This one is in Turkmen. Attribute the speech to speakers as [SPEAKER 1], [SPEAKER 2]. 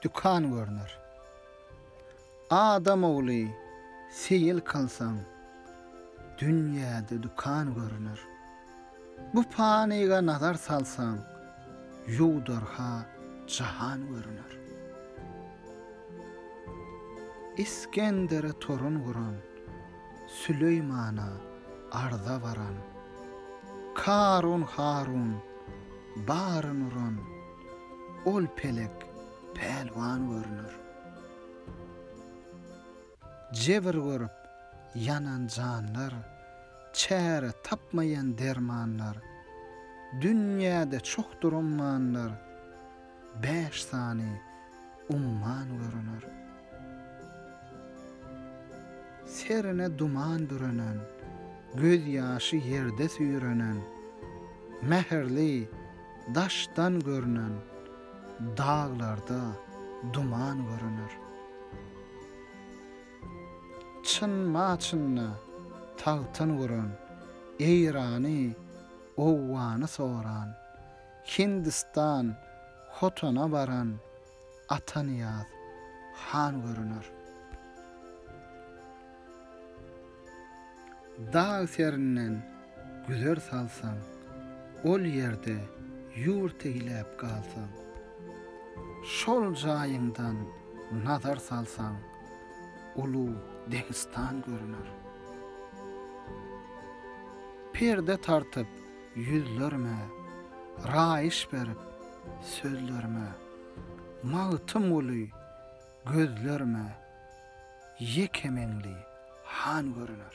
[SPEAKER 1] Dükan görner. Adam ogly seýil kylsaň, dünýäde dükan görner. Bu panyga nazar salsaň, ýuwdar-ha jahan görner. Isgendere torun guran, Süleýmana arza baran, Karun-Harun, Baryn uran ol pelek pälwan görüner. Jebir görüp ýanan janlar, çäre tapmaýan dermanlar, dünýäde çokdur ummanlar. Bäş sany umman görüner. Serine duman bürenen, gözýaşy ýerde süýrenen, mähirli daşdan görünen daglarda duman görüner. Çyn-ma-çynda tagtyn guran, Eýrany, Owgany soran, Hindistan Hotana baran Atanyýaz han görüner. Dag serinden güzer salsaň, Ol ýerde ýurt eýläp galsaň. Şol jaýyňdan nazar salsaň, Uly Deňistan görüner. Perde tartyp Ýüzlerime raýyş berip sözlerime, Magtym guly gözlerime Ýeke meňli han görüner.